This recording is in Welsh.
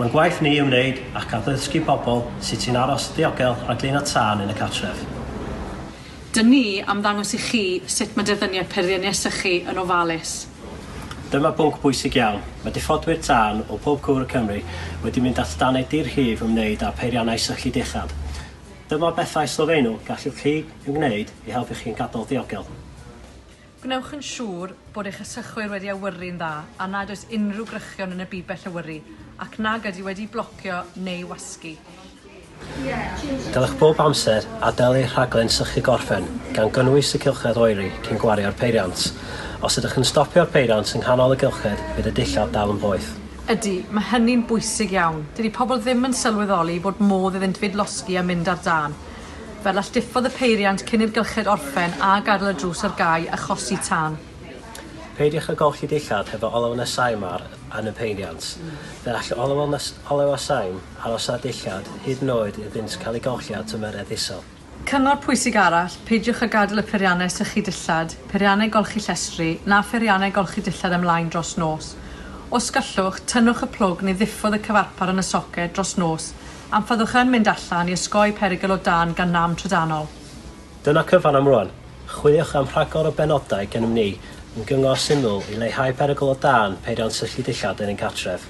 Mae'n gwaith ni ymwneud ac addysgu pobl sut i'n aros yn ddiogel rhag dyn a tân yn y cartref. Dyn ni am ddangos i chi sut mae dyfyniad peirianneg sychu yn ofalus. Dyma bwnc bwysig iawn, mae diffodwyr tân o bob cwr y Cymru wedi mynd at danau di-rhif ymwneud â pheiriannau sychu dillad. Dyma bethau sylfaenol y gallwch chi ei wneud i helpu chi'n gadael diogel. Gwnewch yn siŵr bod eich ysgychwyr wedi awyru'n dda a nad oes unrhyw grychion yn y bibell awyru ac nag ydy wedi'i blocio neu wasgu. Dylech bob amser adael eich rhaglen sychu gorffen, gan gynnwys y cylchoedd oeri, cyn gwario'r peiriant. Os ydych yn stopio'r peiriant yng nghanol y gylched, bydd y dillad dal yn boeth. Ydy, mae hynny'n bwysig iawn. Dydy pobl ddim yn sylweddoli bod modd iddynt fyd losgi a mynd ar dân. Fel alltufodd y peiriant cyn i'r gylched orffen a gadael y drws ar gau achosi tân. Peidiwch â golchi dillad hefo olew neu saim ar yn y peiriant. Fe all olew a saim aros ar y dillad hyd yn oed iddynt cael eu golchi ar drymer eddisol. Cyngor pwysig arall, peidiwch â gadael y peiriannau sychu dillad, peiriannau golchi llestri, na pheiriannau golchi dillad ymlaen dros nos. Os gallwch, tynnwch y plwg neu ddiffodd y cyfarpar yn y soced dros nos am fyddwch yn mynd allan i osgoi perygl o dân gan nam trydanol. Dyna cyfan am rŵan. Chwiliwch am rhagor o benodau gennym ni yn gyngor syml i leihau perygl o dân peiriant syllu dillad yn ein cartref.